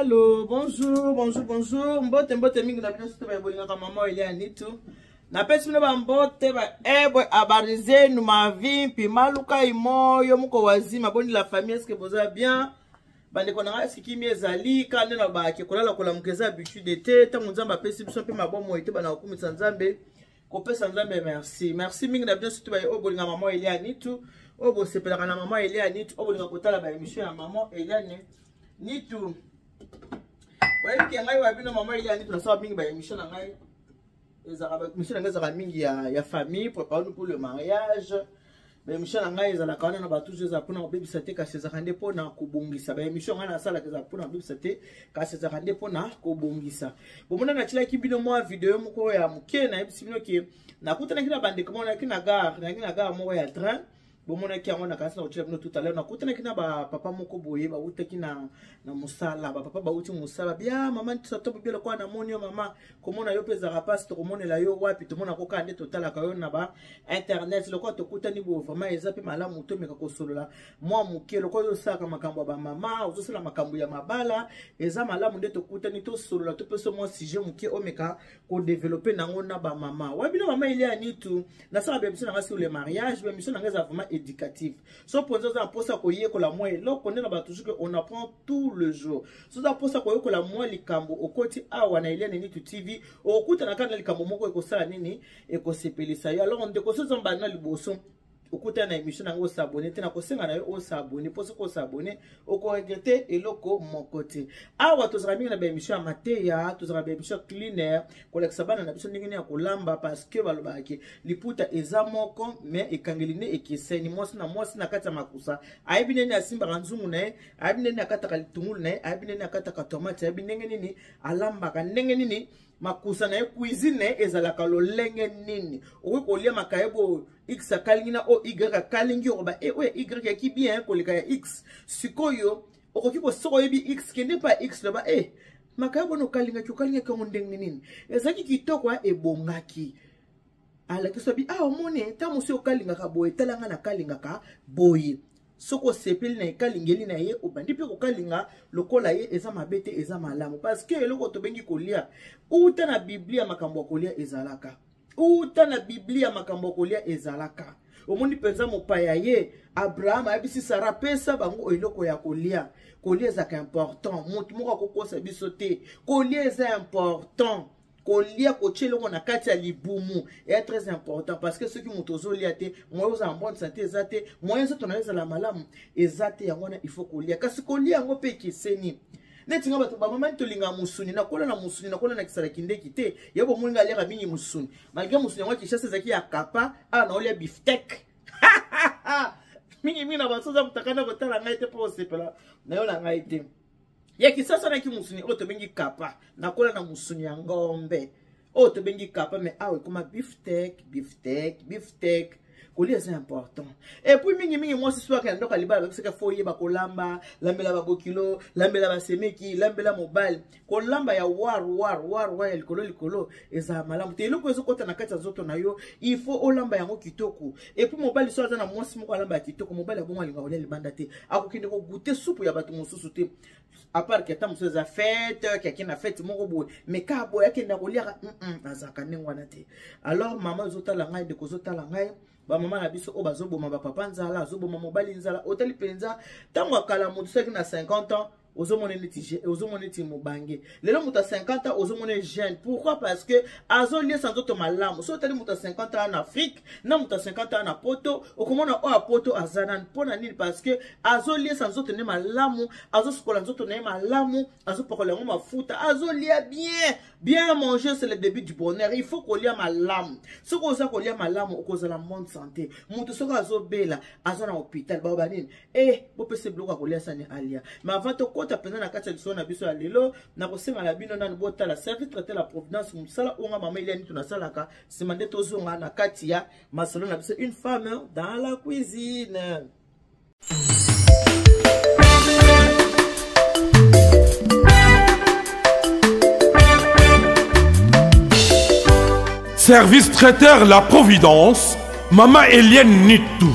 Allô, bonjour, bonjour, bonjour. Mbote, mbote, mingi na bino soto babolingaka mama Elia Nitu. Napesi bino ba mbote ba ebwe habari zenu mavi mpi maluka imo yo moko wazima boni la famille est-ce que boza bien? bandeko na ngai sikimi ezali kaka nde na bake kolala kolamuka eza habitude te ntango nzambe apesi biso mpe mabomo ete bana kokumisa nzambe kopesa nzambe merci merci mingi na bino surtout baye oyo bolinga mama elia nitu oyo bosepelaka na mama elia nitu oyo bolinga kotala baémission ya mama eliane nitu oyebi ke ngai wa bino mama elia nitu nasala mingi baémission na ngai ezalaka mission na ngai ezalaka mingi ya, ya famille préparanu pour le mariage baemission na ngai ezalaka wana na bato eza mpona kobebisa te kasi ezalaka nde mpona kobongisa baemission ngai nasalaka ezalaka mpona kobebisa te kasi ezalaka nde mpona kobongisa bomona natyelaki bino mwa video moko ya moke nayebisi bino ke nakutanaki na bandeko moko nayaki na gare nayaki na gare moko ya train bomonaki yango nakanisi na kotya bino tutalere nakutanaki na bapapa moko boye bautaki na, na mosala bapapa bauti mosala bia mama ntitotobo bia lokola namoni yo mama komona yo mpe ezalaka mpasi tokomonela yo wapi tomona kokaa nde totalaka yo na ba internet lokola tokutani boye vraiment eza mpe malamu tomeka kosolola mwa moke lokola yo osalaka makambo ya bamama ozosala makambo ya mabala eza malamu nde tokutani tosolola topesa mwa sujet moke omeka kodevelope nango na bamama wabi na mama elia nitu nasala bemission na ngai sur le mariage bemission na ngai eza vraiment éducative so mponza oza na mposa koyekola mwa eloko nde na bato soki on apprend tout le jour so oza mposa koyekola mwa likambo okoti awa na elia nitu tv okokutana kaka na likambo moko ekosala nini ekosepelisa yo alors ndeko so oza mbanda liboso okuta na émission na ngo s'abonner te na kosenga na yo o s'abonner mpo soki os'abonner okoregrete eloko moko te awa tozalaka mingi na baémission ya mateya tozalaka baémission ya culinaire kolakisa bana na biso ndenge nini ya kolamba parce que balobaka ke liputa eza moko mais ekangeli nde ekeseni mwasi na mwasi na kati ya makusa ayebi ndenge nini asimbaka nzungu na ye ayebi ndenge nini akataka litungulu na ye ayebi ndenge nini akataka tomate ayebi ndenge nini alambaka ndenge nini makusa na ye cuisine na ye ezalaka lolenge nini okoki kolia makayebo oyo x akalingi na oyo y akalingi okoba e oyo ya y yaki bien koleka ya x sikoyo okoki kosoka oyebi x kende mpa x loba e eh, makayebo na okalingaki okalingaki yango ndenge nini ezalaki kitoko ebongaki alakisa bi awa ah, omoni ntango mosusu okalingaka boye tala ngai nakalingaka boye soki osepeli na ekalingeli na ye obandi mpe kokalinga lokola ye eza mabe te eza malamu parceke eloko tobengi kolia uta na biblia makambo ya kolia ezalaka uta na biblia makambo ya kolia ezalaka omoni mpenza mopaya ye abraham ayebisi sara pesa bango eloko ya kolia kolia ezalaka important motu moko akokosa biso te kolia eza important kolia kotia eloko na kati ya libumu eya très important parce que soki moto ozolia te moyen ozala bonne santé eza te moyen nzoto na yo ezala malamu eza te yango wana il faut kolia kasi kolia yango mpe ekeseni neti nga bato bamamani tolingaka mosuni nakola na mosuni nakola na kisala kindeki te ya bomoni nga aliaka mingi mosuni malgre mosuni yango ya kinshasa ezalaki ya kapa awa naolia biftek mingi mingi na basoza motakana kotala ngai te mpo osepela nayo na ngai te ya kisasa naki musuni oyo tobengi kapa nakola na musuni ya ngombe oyo tobengi kapa me awa ekoma biftek biftek biftek kolia eza important epuis mingimingi mwasi swaka ya ndoko ya libala babisaka fo oyeba kolamba lambela babokilo lambela basemeki lambela mobali kolamba ya war war war war ya likolo likolo ezala malamu te eloko ezokota na kati ya nzoto na yo il faut olamba yango kitoko epuis mobali so aza na mwasi moko alamba ya kitoko mobali abongo alinga kolia libanda te akokende kogute supu ya bato mosusu te apart ke ata mosusu eza fete ke akenda fete moko boye me ka boye akenda koliaka azalaka ndenge wana te alors mama ezotala ngai ndeko ozotala ngai bamama na biso oyo bazoboma bapapa nzala azoboma mobali nzala otali mpenza ntango ya kala moto soki na 50 ans ozomona neti ozomona neti mobange lelo moto ya 50 ans ozomona jeune pourquoi parce que azoliesa nzoto malamu soki otali moto ya 50 ans na afrique na moto ya 50 ans na poto okomona oyo ya poto aza nani mpo na nini parce que azoliesa nzoto ne malamu azosukola nzoto na ye malamu azopakola yango mafuta azolia bien bien manger c'est le début du bonheur il faut kolia malamu soki oza kolia malamu okozala monde santé moto soki azobela aza na hôpital baoba nini Eh, bopesa biloko ya kolia sani alia ma avant tokɔta mpenza na kati ya lisolo na biso ya lelo nakosenga na bino nani botala service traite la providence mosala oyo nga mama eliani to nasalaka nsima nde tozonga na kati ya masolo na biso une femme dans la cuisine Service traiteur La Providence, Mama Eliane Nitou.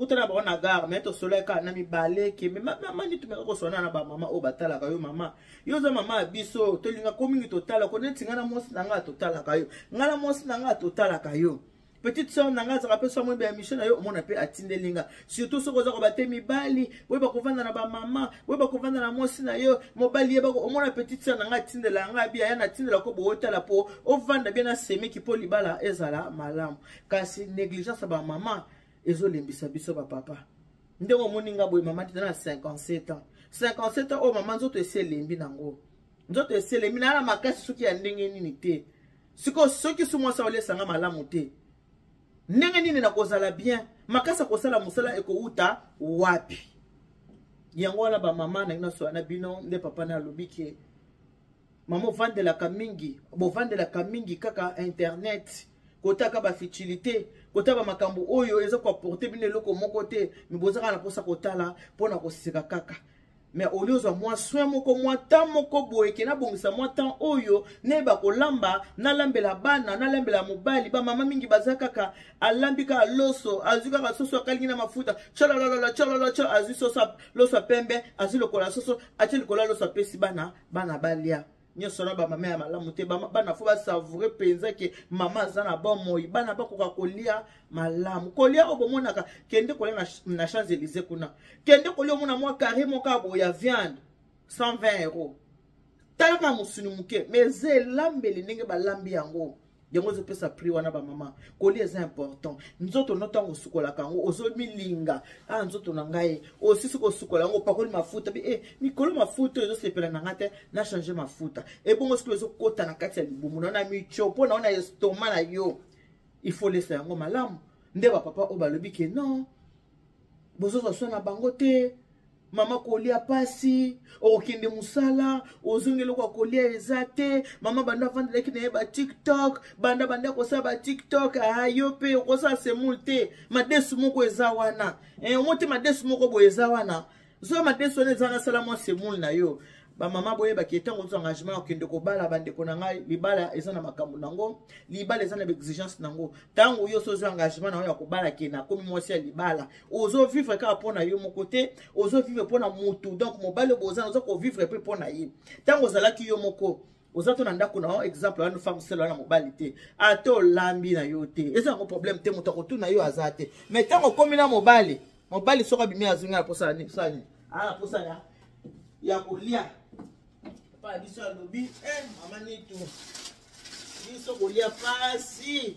kuta na bango na gare me tosolaki kaka na mibale kembe mama nde tomeka koswana na bamama oyo batalaka yo mama yo oza mama ya biso tolingako mingi totala ko neti ngai na mwasi na ngai totalaka yo ngai na mwasi na ngai totalaka yo petite soeur na ngai azalaka mpe soki amoyebi ya misio na yo omona mpe atindeli nga surtout soki oza koba te mibali boyeba kovanda na bamama boyeba kovanda na mwasi na yo mobali yeba omona petite soeur na ngai atindela ngai biya ya natindela ko bootala mpo ovanda bie na semeki mpo libala ezala malamu kasi négligence ya bamama ezolembisa biso bapapa ndenge omoni nga boye mama tita na 57 ans 57 ans oyo mama nzoto esi elembi nango nzoto esi elembi naya na makasi soki ya ndenge nini te sikoyo soki su mwasi aolesanga malamu te ndenge nini nakozala bien makasi akosala mosala ekowuta wapi yango wana bamama na bino sola na bino nde papa na alobi ke mama ovandelaka mingi bovandelaka mingi kaka internet kotaka bafutilité kota bamakambo oyo eza koaporte bino eloko moko te me bozaka na mposa kotala mpo na koseka kaka me olie ozwa mwa soin moko mwa temps moko boye ke nabongisa mwa temps oyo nayeba kolamba nalambela bana nalambela mobali bamama mingi baza kaka alambi kaka loso azwi kaka soso akalingi na mafuta cholololola chololocho azwi soso loso ya pembe azwi lokola soso atie likolo ya loso apesi bana bana balia nyonso na bamama ya malamu te bana fo basavoure mpenza ke mama aza na bomoi bana bakoka kolia malamu kolia oyo bomonaka kende kolia na, na champs élysé kuna kende kolia omona mwa carré moko ya boye ya viande 120 euro talaka mosuni moke mais eza elambeli ndenge balambi yango yango ezopesa prix wana bamama koli eza important nzoto no ntango osukolaka yango ozomilinga a ah, nzoto na ngai osisi kosukola yango opakoli mafuta bi e eh, mikolo mafuta oyo ezosepela na ngai te na change mafuta ebongo sikoyo ezokota na kati ya libumu na na micho mpo na ona estoma na yo ifolesa yango malamu nde bapapa oyo balobi ke non bozozwa so na bango te mama kolia pasi okokende mosala ozongi eloko ya kolia eza te mama banda avandelaki na ye batiktok banda banda kosala batiktok aa yo mpe okosala semoule te madesu moko eza wana eh, omo te madesu moko boye eza wana zwa madesu wana eza wana sala mwa semoule na yo bamama boyebaki ntango ozwa engagement okende kobala bandeko na ngai libala eza na makambo na yango libala eza na baexigence na yango ntango yo ozwa engagement na yo ya kobala ke nakomi mwasi ya libala ozovivre kaka mpo na yo moko te ozovivre mpo na motu donc mobali oboza oza kovivre mpe mpo na ye ntango ozalaki yo moko oza to na ndako na yo exemple wana femme sele wana mobali te ata olambi na yo te eza yango problème te moto akotuna yo aza te mais ntango okomi na mobali mobali soki abimi azongi na posa nini posa nini aa na posa ya ya kolia papa biso alobi eh, mama nitu biso kolia pasi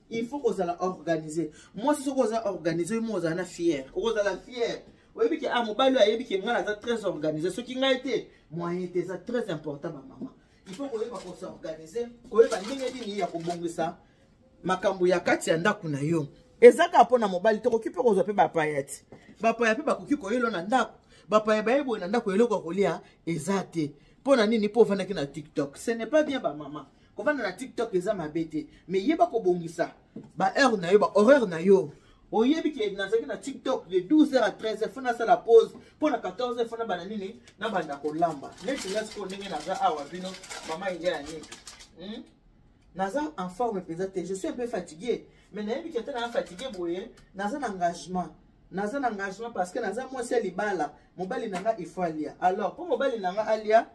il faut kozala organise mwasi soki oza organise oyo mo ozala na fiere okozala fiere oyebi ke a ah, mobali oyo ayebi ke ngai naza très organise soki ngai te moyen te eza très important bamama il faut koyeba kosorganize koyeba ndenge nini ya kobongisa makambo ya kati ya ndako na yo eza kaka mpo na mobali tokoki mpe kozwa mpe bapaya ti bapaya mpe bakoki koyelo na ndako bapaya baye boye na ndako eloko ya kolia eza te mpo na nini mpo ofandaki na tiktok ce n'est pas bien bamama kovanda na tiktok eza mabe te mais yeba kobongisa baheure na yo bahoraire na yo oyebi ke nazalaki na tiktok de 12 heures à 13 heures fo nasala pause mpo na 14 heures fo nabanda nini nabanda kolamba neti nga sikoyo ndenge naza awa bino mama india ya niki hmm? naza en forme mpenza te je suis un peu fatigué mais nayebi ke ata naa fatigué boye naza na engagement naza na engagement parce que naza mwasi ya libala mobali na nga il faut alia alors mpo mobali na nga alia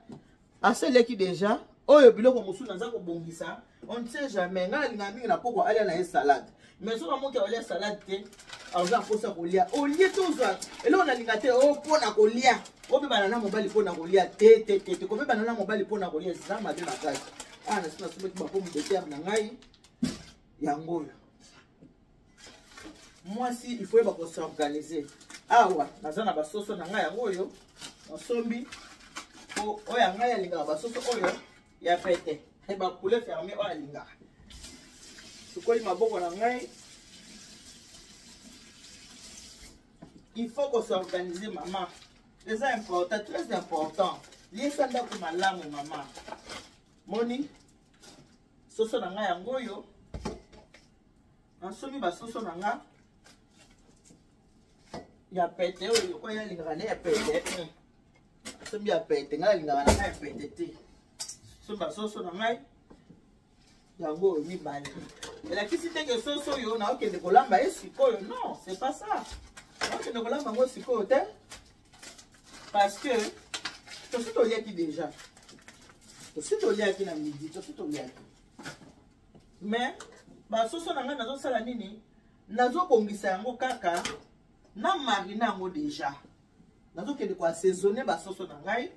Ase leki deja oyo biloko mosusu naza kobongisa on ne sait jamais ngai nalinga mingi na poko alia na ye salade mais soki amoki aolia salade te aza akosa kolia olie tozwa eloko nalinga te o mpo na kolia obebana na mobali mpo na kolia te te te te kobebana na mobali mpo na kolia eza mabe makasi awa nasi nasomaki bapomu de terre na ngai yango oyo mwasi il faut yeba ko s'organiser awa naza na basoso na ngai yango oyo nasombi po oyo ya ngai alingaka basoso oyo ya pete eh, bapoulet ferme oyo alingaka sukoli maboko na ngai il faut ko s'organiser mama eza important très important liesa ndako malamu mama moni soso na ngai yango oyo nasombi basoso na nga ya pete oyo lokola ye alingaka nde ya pete eh. sombi ya pete ngai alingaka na ngai ya pete te sombi basoso na ngai yango oyo mibale elakisi ndenge soso oyo naokende kolamba ye sikoyo non c'est pas ça naokende kolamba yango sikoyo te parce que tosi toliaki déjà tosi toliaki na midi tosi toliaki mais basoso na ngai nazosala nini nazobongisa yango kaka na marina yango deja nazokende koassaisonne basoso na ngai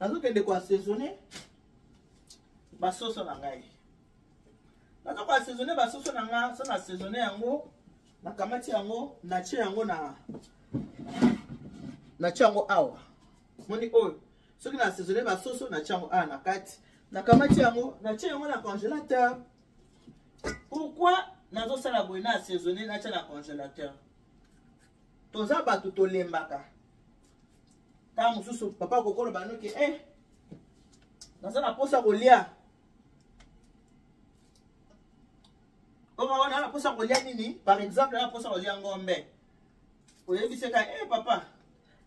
nazokende koassaisonne basoso na ngai naza ko assaisonne basoso na nga so na assaisonne yango nakamati yango natie yango na natie yango awa moni oyo soki na assaisonne basoso natie yango awa na kati nakamati yango natie yango na congélateur pourquoi nazosala boye na assaisonne natia na congélateur toza bato tolembaka ntango mosusu papa kokoloba noki e eh, naza na mposa kolia oma wana naposa kolia nini par exemple naposa kolia ngombe oyebiseka e eh, papa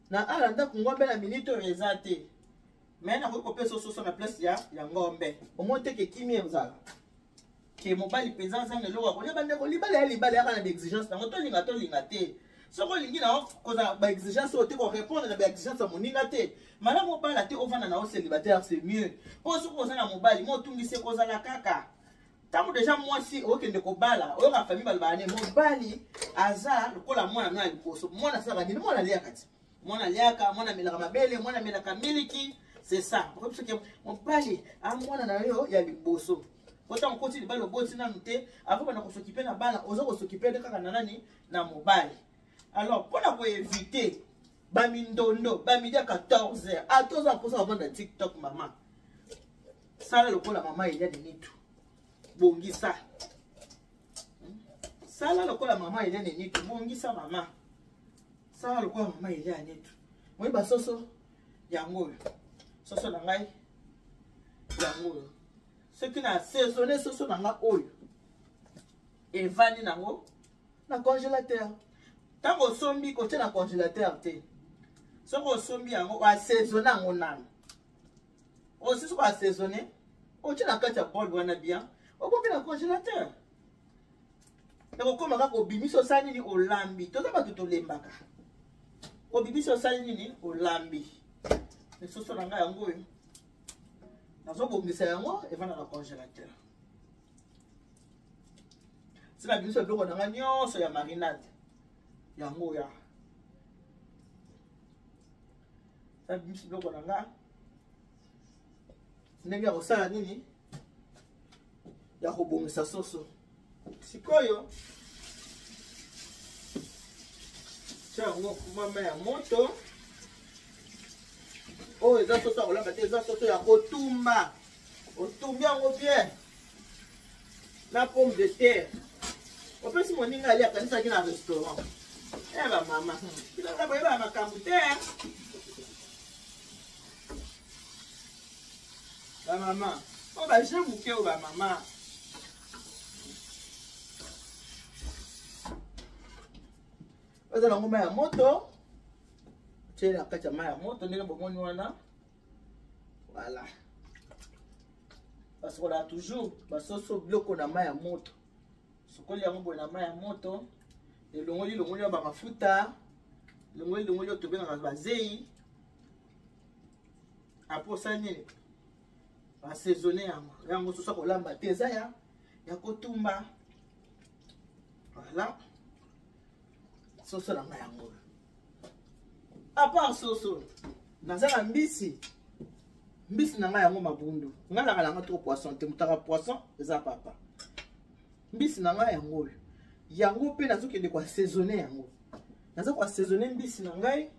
na ala ndako ngombe na minite oyo eza te me nakoki kopesa ososo na place ya, ya ngombe omoni te kekimi ezala ke mobali mpenza azanga eloko akolia bandeko libala ya libala yaka na baexigence nango tolinga tolinga te soki olingi na kozala baexigence oyo te korépondre na baexigence ya moninga te malamu obala te ovanda na yo célibataire c'est mieux mpo soki oza na mobali mo otungisi ekozala kaka ntango deja mwasi okende kobala oyoka famille balobaka ne mobali aza lokola mwana no ya liboso mwana asalaka nini mwana aliaka ti mwana aliaka mwana amelaka mabele mwana amelaka miliki c'est ça okoyebi soki mobali a ah, mwana na yo ya liboso po ntango okoti libala oboti nanu te avant banda kosokipe na bana oza kosokipe nde kaka na nani na mobali alors mpo na koevite bamindondo bamidi ya 14 heure a ah, toza mposa bavanda tiktok mama sala lokola mama elia ninitu bongisa hmm? sala lokola mama elia ninitu bongisa mama sala lokola mama elia ninitu moi basoso yango oyo soso na ngai yango oyo soki na saisonne soso na ngai oyo evandi nango na congélateur ntango osombi kotia na congélateur te soki osombi yango oasezone yango nano osisi koasezone otia na kati ya bol wana bien okoki na congélateur ekokoma kaka obimisi osali nini olambi toza bato tolembaka obimisi osali nini olambi lisusu na ngai yango oyo nazobongisa yango evanda na congélateur sina biso biloko na nga nyonso ya marinade yango ya sina biso biloko na nga ndenge ya kosala nini ya kobongisa soso sikoyo tya yango kumama ya moto oyo eza soso ya kolamba te eza soso ya kotumba otumbi yango bien na pomme de terre opesi moninga ali akanisaki na restaurant e eh, bamama bilanga boyebaa makambo te bamama o oh, baje moke o oh, bamama oza na ngoma ya moto otyele na kati ya mai ya moto ndenge bomoni wana voilà basokola toujours basoso biloko na mai ya moto sokoli yango boye na mai ya moto elongoli longoli ya bamafuta longoli longoli oyo tobengaka bazei apres osali nini basaisonne yango yango soso akolamba te eza ya ya kotumba voilà soso na ngai yango apart soso naza na mbisi mbisi na ngai yango mabundu ngai naka nanga toko poisson te motaka poisson eza papa mbisi na ngai yango oyo yango mpe nazokende koassaisonne yango naza koassaisonne mbisi na ngai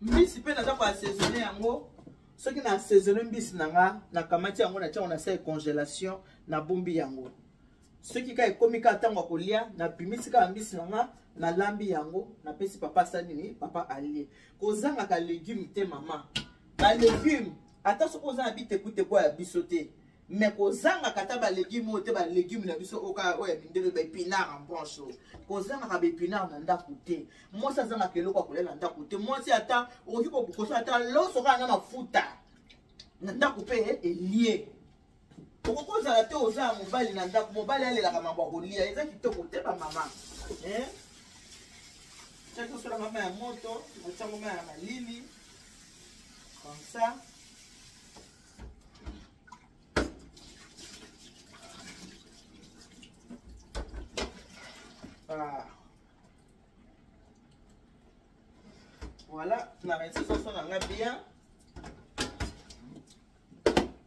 mbisi mpe naza koassaisonne yango soki na assaisonne mbisi na nga nakamati yango natyango na sa congélation nabombi yango soki ka ekomi ka ntango ya kolia nabimisi kaka mbisi na nga nalambi yango napesi papa asa nini papa alie kozangaka legume te mama balegume ata soki oza na bitekuteku ya biso te me kozangaka ata balegume oyo te balegume na biso oka oyo ya mindele baepinard en branche oyo kozangaka baepinard na ndako te mwasi azangaka eloko ya kolia na ndako te mwasi ata okoki kokosa ata loso kaka na mafuta na ndako mpe elie okoki ozala te oza ya mobali na ndako mobali alelaka mambo ya kolia eza kitoko te bamama eh? tya tosola mama ya moto otya mama ya malili comme ça ah. voilà na resi soso na nga bien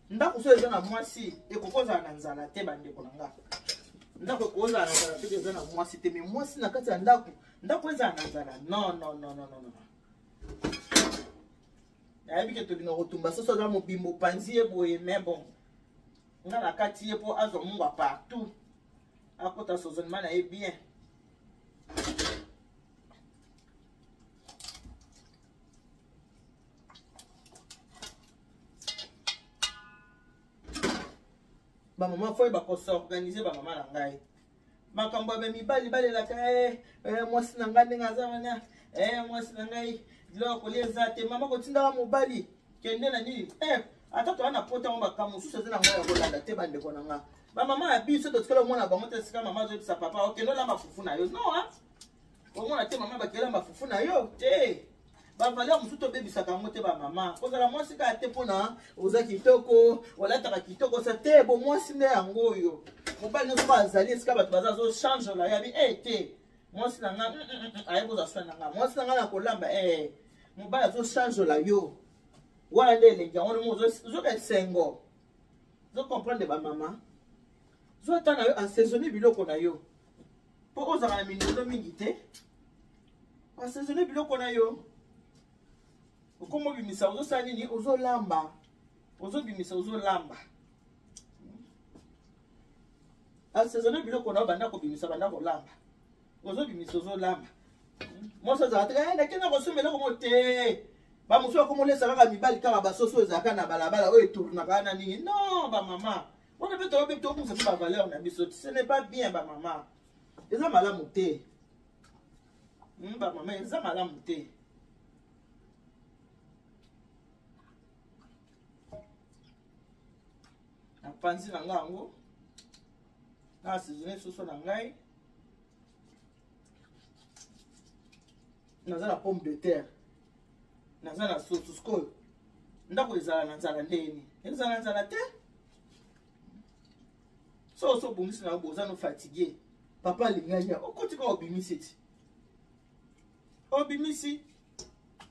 ndako so eza na mwasi ekokozala na nzala te bandeko na nga ndako ekozala na nzala te eza na mwasi te mais mwasi na kati ya ndako ndako ezala na nzala non non non non non nayebi ke tobina kotumba soso aza mobimbo opanzi ye boye mais bon nga na kati ye mpo azwa mungwa partout akota sozonema na ye bien bamama foye bakosorganize bamama na ngai makambo ya mibali balelaka eh, eh, mwasi na ngai ndenge aza wana eh, mwasi na ngai biloko kolia eza te mama kotindaka mobali kende na nini ata toa na pota yango makambo mosusu eza na ngai ya kolanda te bandeko na ngai bamama ya biso totikala omona bango te esika mama azoyebisa papa okende olamba fufu na yo no omona te mama bakela mafufu na yo te bavaleur mosusu tobebisaka yango te bamama kozala mwasi kaka te mpona oza kitoko olataka kitoko sa te bo mwasi nde yango oyo mobali nyonso ba azali esika bato baza azochange ola yabi e eh, te mwasi na nga mm, mm, mm, aye kozwa soi na nga mwasi na nga na kolamba e eh, mobali azochange ola yo wana nde elengi yango nomo ozoka esengo ozocomprendre bamama zotana yo asezoni biloko na yo mpo ozala na mindondo mingi te basaisonne biloko na yo okomobimisa ozosala nini ozolamba ozobimisa ozolamba asaisonne biloko na yo banda kobimisa banda kolamba ozobimisa ozolamba mwasi azala te eh, nakenda kosomba eloko mo te bamosusu bakomolesa kaka mibali kaka basoso ezalaka na balabala oyo etournaka na nini non bamama wana mpe toyobi tobungisa mpe bavaleur na biso ce n'est pas bien bamama eza malamu te hmm, bamama eza malamu te napanzi na ngai yango na asizone soso na ngai naza na pomme de terre naza na soso sikoyo ndako ezala na nzala ndenge nini ezala na nzala te so so obongisi na yo boza no fatigue papa alingaki ya okoti kaka obimisi ti obimisi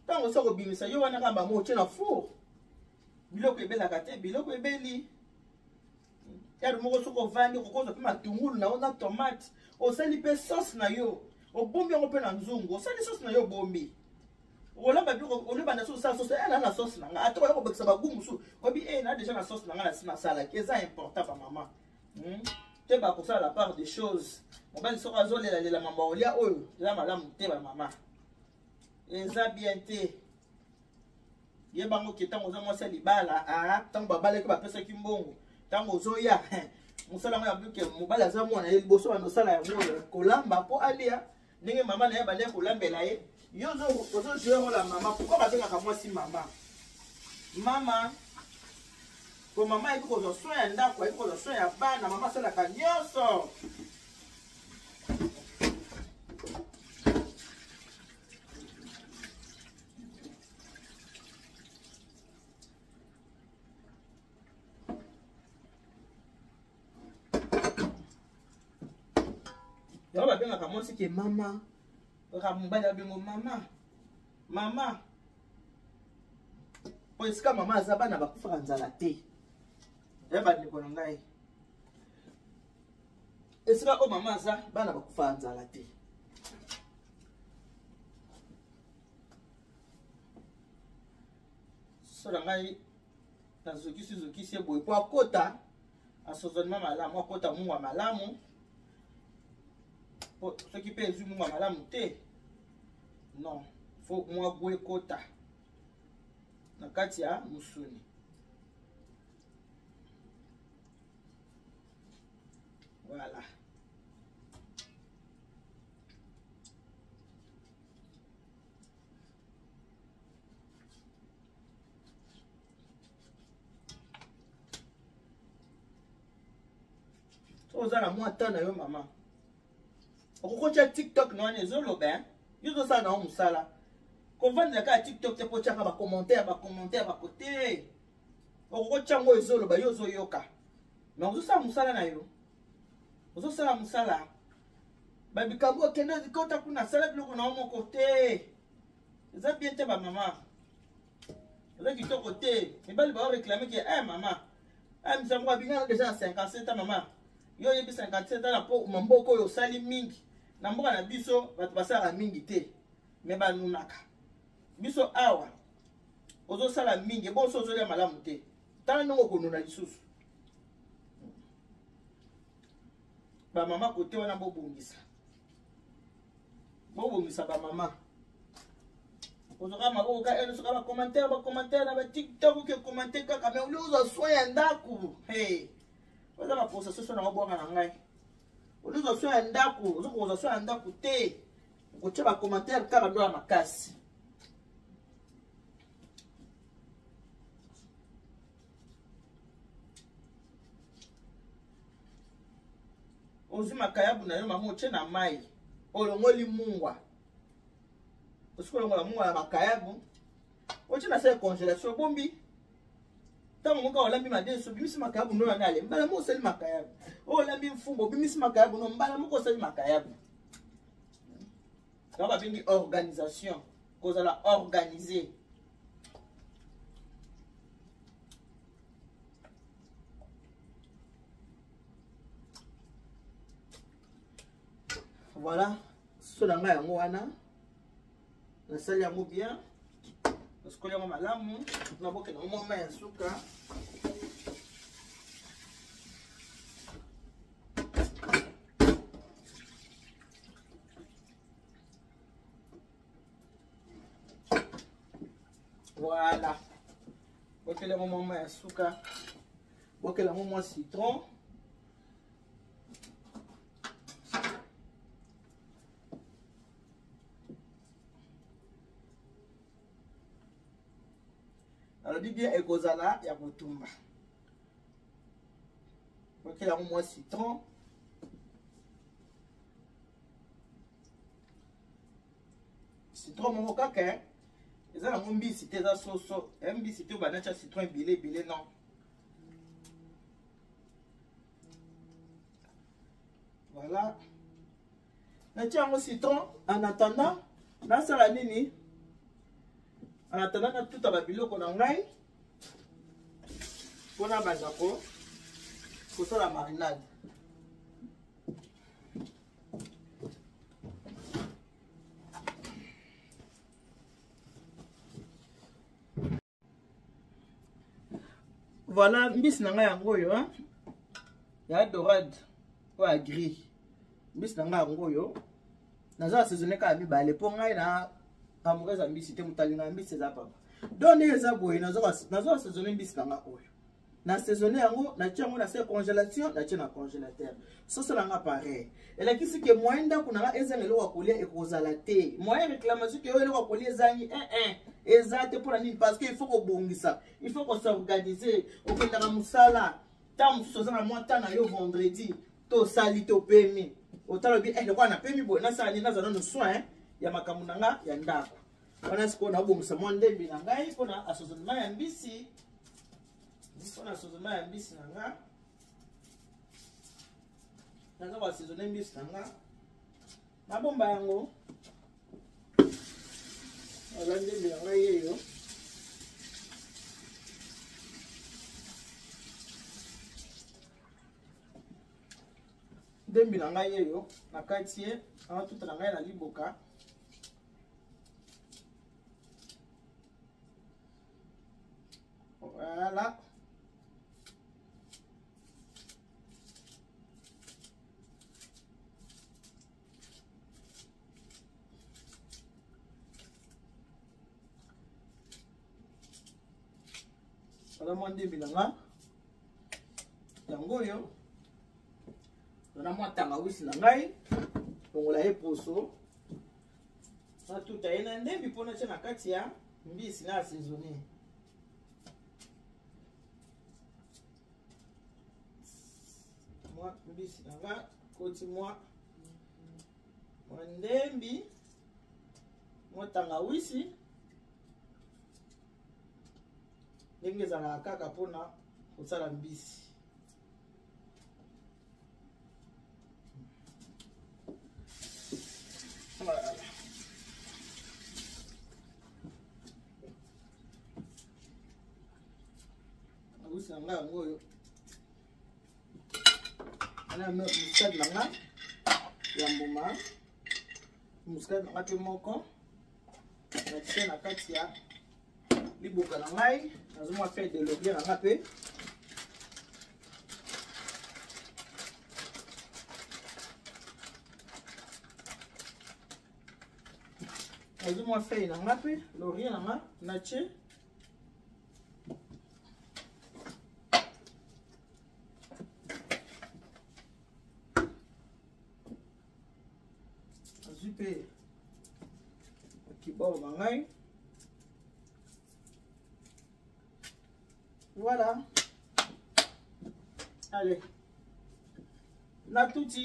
ntango osa kobimisa yo wana kaka bango otye na four biloko ebelaka te biloko ebeli yaro moko soki ovandi okokoza mpe matungulu na yo na tomate osali mpe sauce na yo obombi yango mpe na nzungu osali sauce na yo obombi olamba bi olibanda so osala sauce ena eh, na sauce na nga ata oya kobakisa bagu mosusu obi e eh, na deja na sauce na nga na si nasalaki eza important bamama hmm? te bakosala la part des choses mobali soko azolelalela mama olia oyo eza malamu te bamama eza bien te ye bango ke ntango oza mwasi ya libala ah, ntango babalaki bapesaki mbongo ntango ozoya mosala yango ya buke mobali aza mwana ye liboso banda osala yango oyo kolamba mpo alia ndenge mama na ye bandaki kolambela ye yo ozozwa yango na mama pourkui babengaka mwasi mama mama po mama ayeki kozwa soin ya ndako ayeki kozwa soin ya bana mama asalaka nyonso yango babengaka mwasi ke mama kaka mobali abengo mama mama mpo esika mama aza bana bakufaka nzala te ya bandeko na ngai esika oyo mama aza bana bakufaka nzala te so na ngai nazokisi zokisi ye boye mpo akota asozonema malamu akota mungu ya malamu po soki mpe ezwi mungu ya malamu te non fo mwa gu ekota na kati ya mosuni voilà oza na mwa temps na yo mama okokotya tiktok na wana ezoloba eh? yo ozosala na yo mosala kovandela kaka tiktok te mpo otyaka bacommentaire bacommentaire bakote okokotya yango ezoloba yo ozoyoka me ozosala mosala na yo ozosala mosala babikabu okende kota kuna asala biloko na yo moko te eza bien te bamama eza kitoko te mibali baoreklame ke e mama eh, misa moko abingana deja na 57 ans mama yo oyebi 57 ans na po mamboko oyo osali mingi na mboka na biso bato basalaka mingi te me banunaka biso awa ozosala mingi bonso ozolia malamu te tala ndenge okonuna lisusu bamama kote wana bobongisa bobongisa bamama ozoka maboko ka eno soka bacommentaire bacommentaire na batiktok oke commente kaka me oli ozwa soin ya ndako hey. oza baposa soso na obwaka na ngai oli ozwa soin ya ndako ozokozwa soin ya ndako te okotya bacommentaire kaka dola makasi ozwi makayabu na yo mama otye na mai olongoli mungwa osi kolongola mungwa na makayabu otye na sale congélation obombi ntango moka olambi madesu obimisi makayabu no wana ale mbala moko osali makayabu oyo olambi mfumba obimisi makayabu no mbala moko osali makayabu yango babengi organisation kozala organise voilà so na ngai yango wana nasali yango bien nasukoli yango malamu nabokela yango mwa mai ya suka voilà bokela yango mwa mai ya suka bokela yango mwa citron nalobi bien ekozala ya kotumba bakela yango mwa citron citron moko kaka eh. eza nango mbisi te eza soso eh, mbisi te obanda tya citron ebele ebele non voilà natya yango citron en attendant nasala nini en attendant natuta babiloko na ngai mpo nabanda ko kosala marinade voilà mbisi na ngai yango oyo ya dorade oyo ya gris mbisi na ngai yango oyo naza na saisonne kaka mibale mpo ngai na amoureux ya mbisi te moto alingaka mbisi eza papa donc ndenge eza boye naza na saisonne mbisi na nga oyo na saisonne yango natie yango na se congélation natie na congélateur soso na nga pareil elakisi ke moyen ndako na nga ezanga eloko ya kolia ekozala te moyen réclamation ke oyo eloko ya kolia ezangi ee eh, eh, eza te mpo na nini parce que il faut kobongisa il faut kosorganiser okendaka mosala ntango mosusu oza na mwa ntan na yo vendredi to osali to opemi otala obi eh, lokola napemi boye nasala nini naza nano soin eh, ya makambo na nga ya ndako wana sikoyo naobongisa mwa ndembi na ngai mpo na asozonema ya mbisi mpo na asozonema ya mbisi na nga naza koasezone mbisi na nga nabomba yango aza ndembe na ngai yeyo ndembi na ngai yeyo na kati ye natuta na ngai na liboka voilà wana mwa ndembi na nga yango oyo wana mwa tangawisi na ngai longola ye poso natuta ye na ndembi mpo natya na kati ya mbisi na asezone mwa mbisi na nga koti mwa mwa ndembi mwa tangawisi ndenge ezalaka kaka mpona kosala mbisi Nabusi na nga yango oyo. Ana muscade na nga ya mbuma. Muscade na nga mpe moko. Natie na kati ya liboka na ngai. Nazomwa feuille de laurier na nga mpe. nazwi mwa feuille na nga mpe laurier na nga natie azwi mpe bakibao ba ngai voilà allez natuti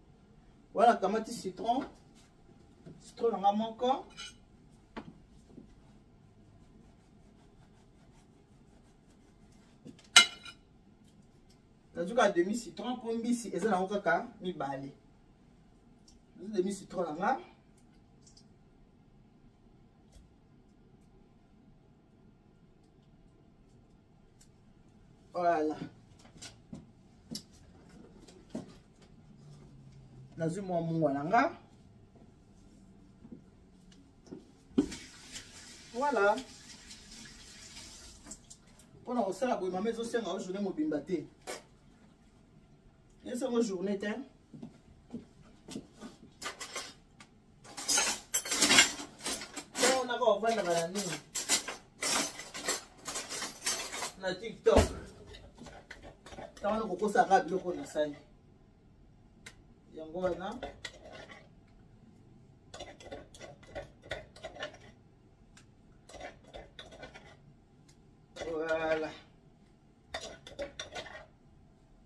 Voilà, kamati citron. Citron nanga moko. nazuka demi citron mpo mbisi eza nango kaka mibale nazu demi citron na nga Voilà. nazwi mwa mungwa na nga voilà mpo na kosala boye mama ezosenga yo journée mobimba te esengo journée te bana bana nini na tiktok ntango kokosaka biloko na sani yango wana voilà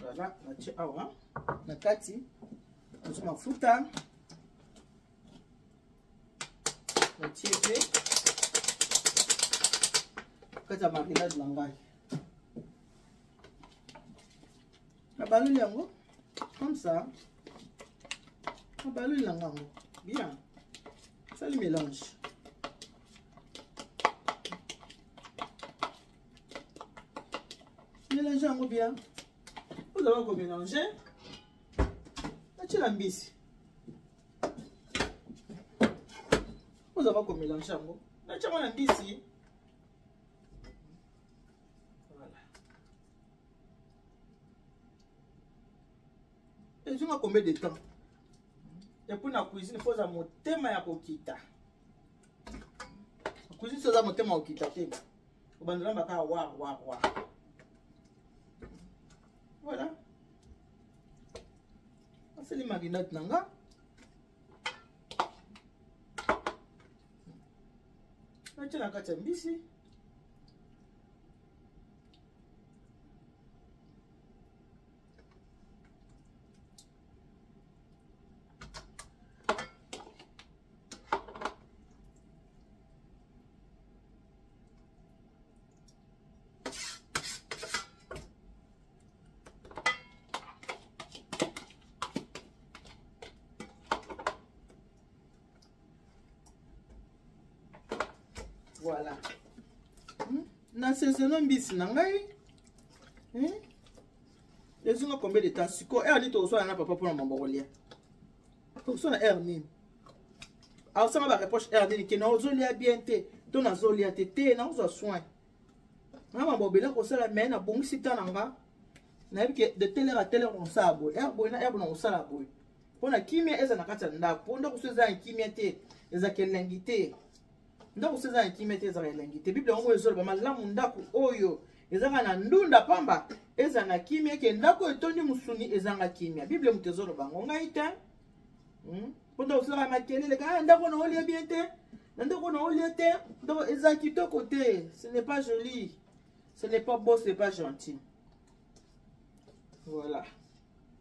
voilà natie awa na kati natie mafuta natie mpe kati ya marinade na ngai nabaloli yango comme ça nabaloli na ngango bien sali mélange mélange yango bien ozala komélange natyela mbisi ozala komélange yango natya mwana mbisi voilà ezonga combien de temps epuis na cuisine mpo oza motema ya kokita cuisine soza motema ya kokita te obandela mba kaka war war war voilà asali marinade na nga natya na kati ya mbisi voilà hmm? na sezono mbisi na ngai hmm? ezonga combien de temps sikoyo eani tozoswana na papa mpona mambo kolia tokoso na heure nini aosanga ba reproche heure nini ke naozolia bien te to nazolia te te nakozwa soin nga mabobele kosala mai nabongisi ta na nga nayebi ke de tele heure a tele heure nakosala boye heure boye na heure boye nakosala boye mpo na kimia eza na kati ya ndako mpo ndako so eza ya kimia te ezaka elengi te ndako se eza na kimia te ezaka elengi te biblia yango ezoloba malamu ndako oyo ezanga na ndunda pamba ezanga kimia eke ndako etondi mosuni ezanga kimia biblia moto ezoloba yango ngai te hmm? mpo ndako osalaka makelele ka ah, ndako na olie bien te na ndako na olie te ndako eza kitoko te ce n'est pas joli ce n'est pas beau ce n'est pas gentil voilà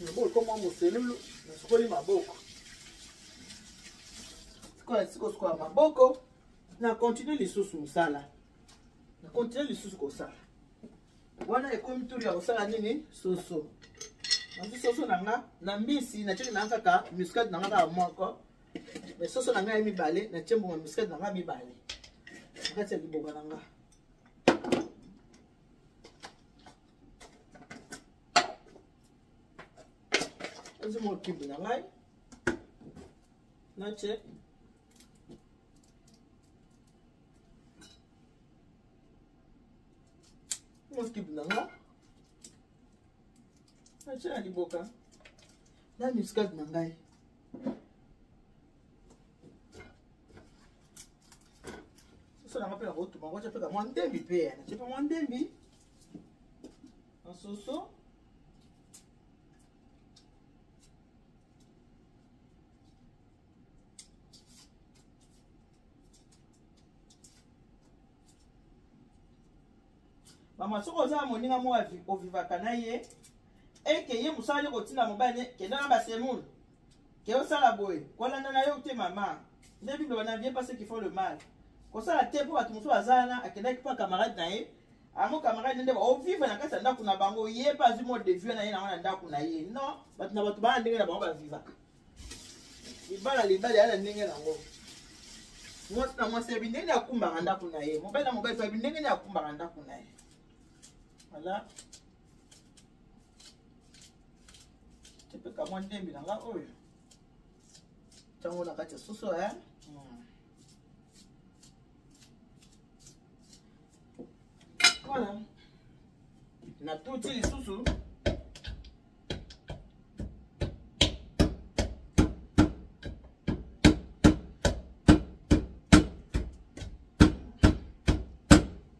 maboko ekoma moselulu nasukoli maboko sikoyo esika kosukola maboko na continue lisusu mosala na continue lisusu kosala wana ekomi turi ya kosala nini soso nazwi soso na nga na mbisi natyeli na nga kaka muscade na nga kaka moko me soso na ngai ya mibale natye mbuma muscade na nga mibale na kati ya liboka na nga ezwi mwa kibu na ngai natye mwa kibu na ngai natye na liboka na muscade na ngai soso na ngai mpe nakotuma kotya mpe kamwa ndembi mpe natye mpe mwa ndembi Nsoso. mama soki oza na moninga moko ovivaka na ye eke ye mosala nde kotinda mobali ne kenda na basemoule ke osala boye kolanda na yo te mama nde bible wana vie pase qu'il faut le mal kosala te mpo bato mosusu aza wana akendaki mpo camarade na ye yango camarade nde ovivre na kati ya ndako na bango ye mpe azwi mode de vie na ye nango na ndako na ye non bato na bato bana ndenge na bango bavivaka libala libala ya na ndenge nango mwasi na mwasi yebi ndenge akumbaka ndako na ye mobali na mobali yebi ndenge akumbaka ndako na ye voilà epeka mwa ndembi na nga oyo ntango na kati ya soso e voilà natuti lisusu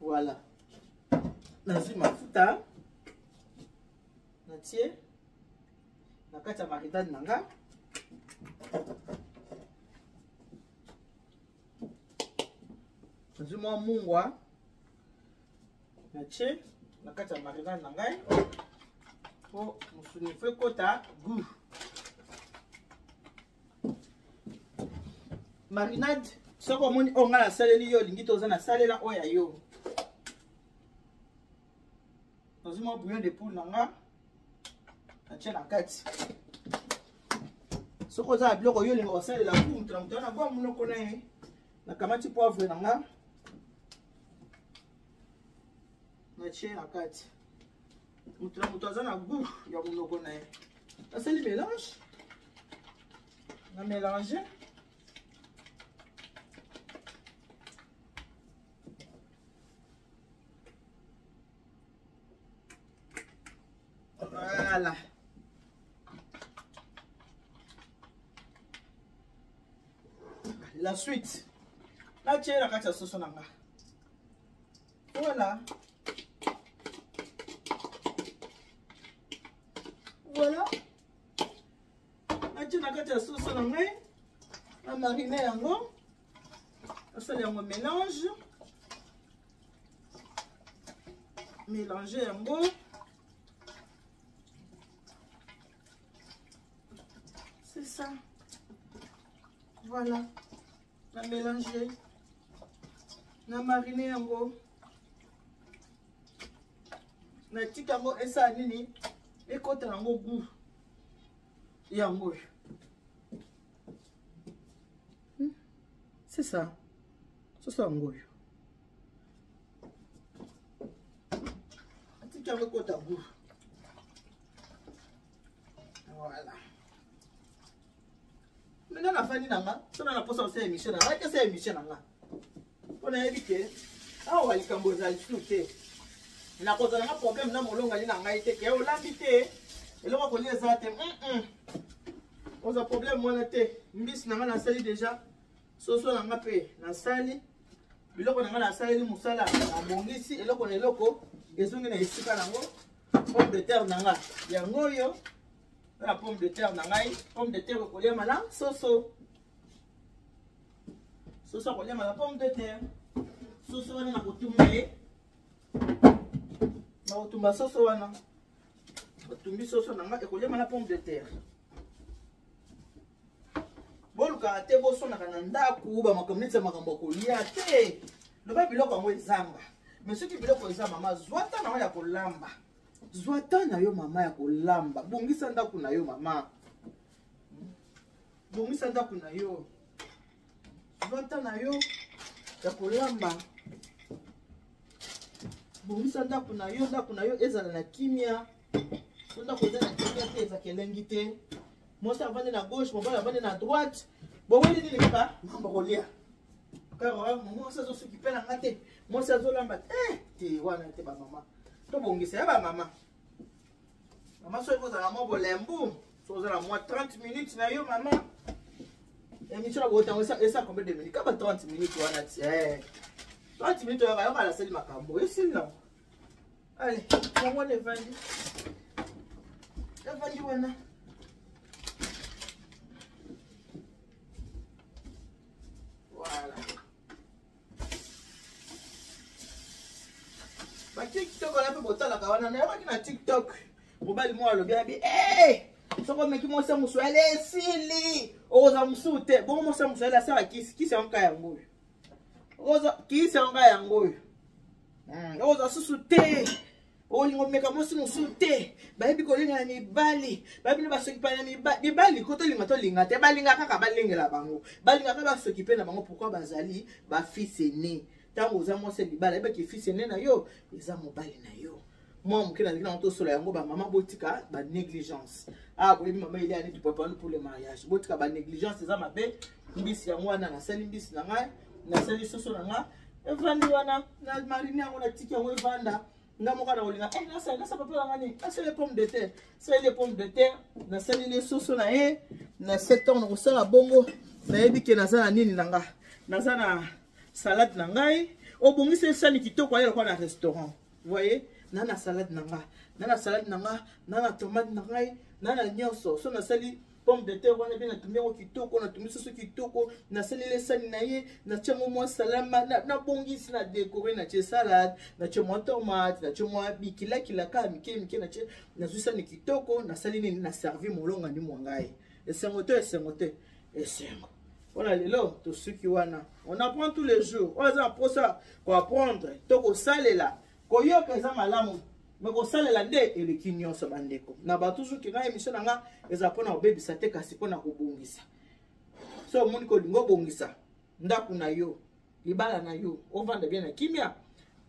voilà nazwi mafuta natie na kati ya maridade na nga nazwi mwa mungwa natie na kati ya marinade na ngai mpo mosuni efo ekota gout marinade soki omoni oyo oh, ngai nasaleli yo olingi toza nasalela oyo ya yo nazwi mwa bouillon de poule na nga natye na kati soki oza na biloko yo olinga kosalela ku moto na moto wana bwa monoko na ye nakamati poivre na nga natye na kati moto na moto aza na gout ya monoko na ye nasali mélange na mélange voilà la suite natie na kati ya soso na nga Voilà. Voilà. Natie na kati ya soso na ngai. Na marine yango. Nasala yango mélange. Mélanger yango. C'est ça. Voilà. na mélange na marine yango natika yango esala nini ekota yango gout yango oyo hmm? c'est ça soso yango oyo atika yango ekota gout voilà maintenant nafandi na nga sona na posa kosala émission na ngai kesala émission na nga mpo nayebi ke awa likambo ezali su te nakozala nga problème na molongani na ngai te ke olambi te eloko kolia eza te oza problème wana te mbisi na ngai nasali déjà soso na ngai mpe nasali biloko na ngai nasaleli mosala nabongisi eloko na eloko ezongi na esika nango pomme de terre na ngai yango oyo na pomme de terre na ngai pomme de terre ekoliama na soso soso akoliama na pomme de terre soso wana nakotumba ye nakotumba soso wana batumbi soso na ngai ekoliama na pomme de terre bolukaka te bosonaka na ndako bamakambo neti ya makambo ya kolia te loba biloko yango ezanga me soki biloko eza mama zwa ntango yango ya kolamba zwa temps na yo mama ya kolamba bongisa ndako na yo mama bongisa ndako na yo zwa temps na yo ya kolamba bongisa ndako na yo ndako na yo ezala na kimia so ndako eza na kimia te ezaka elengi te mwasi avandi na gauche mobali avandi na droite boweli nini kaka mambo kolia kaka mwasi azosuki mpe na nga te mwasi azolamba te eh, te wana te bamama tobongisa ya bamama mama soki kozala mwa bolembu soki ozala mwa 30 minutes na yo mama emission yango ntango esa combien de minutes kaba 30 minutes wana ti 30 eh. minutes oyaka yoka nasali makambo esili nango ale yango wana evandi evandi wana Voilà. Ba TikTok wana mpe botalaka wana nayokaki na TikTok mobali moko alobi abi eh! soko omeki mwasi ya mosuali esili okozala mosusu te bongo mwasi ya mosuali asala kisi kisi yango ka yango oyo kisi yango ka yango oyo hmm, oza susu te olinga omeka mwasi mosusu te bayebi kolinga na mibali bayebi na basokipa na mibali ko tolinga tolinga te balinga kaka balengela bango balinga kaka basokipe na bango pourkui bazali bafisene ntango oza mwasi ya libala yebaki fisi ene na yo eza mobali na yo mwa moke nalingi nango tosola yango bamama botika banégligence a ah, boyebi mama eliani tupapanu pour le mariage botika banégligence eza mabe mbisi yango wana nasali mbisi na ngai nasali soso na ngai evandi wana na marine yango natiki yango evanda nga moko nakolinga eh, nasali nasa papa na ngani asali pomme de terre saleli pomme de terre nasaleli soso na ye na sept ans nakosala bongo nayebi ke naza na nini na nga naza na salade na ngai obongisa esani kitoko aye lokola na restaurant voyez na na salade na nga na na salade na nga na na tomate na ngai na na nyonso so nasali pomme de terre wana mpe natumbi yango kitoko natumbi soso kitoko nasaleli esani na ye natya yango mwa salama nabongisi na dekore natye salade natye mwa tomate natye mwa bikilakila kaka mike mike natye nazwi sani kitoko nasali nini na servi molongani mwa ngai esengo to esengo te esengo mpo na lelo tosuki wana on apprend tous les jours oyo aza na mposa koapprendre to kosalela koyoka eza malamu me kosalela nde eleki nyonso bandeko na bato toujours kina émission na nga eza mpo na kobebisa te kasi mpo na kobongisa so omoni kolinga obongisa ndako na yo libala na yo ovanda bien na kimia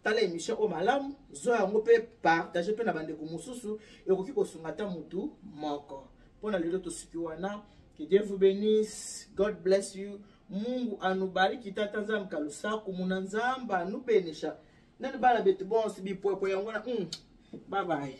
tala émission oyo malamu zwa yango mpe partage mpe na bandeko mosusu ekoki kosunga ata motu moko mpo na lelo tosuki wana que dieu vous bénisse god bless you mungu anubariki tata nzambe kalusaku muna nzambe anubenisha nani bana betu bonse bipwepwe yango wana mm, babaye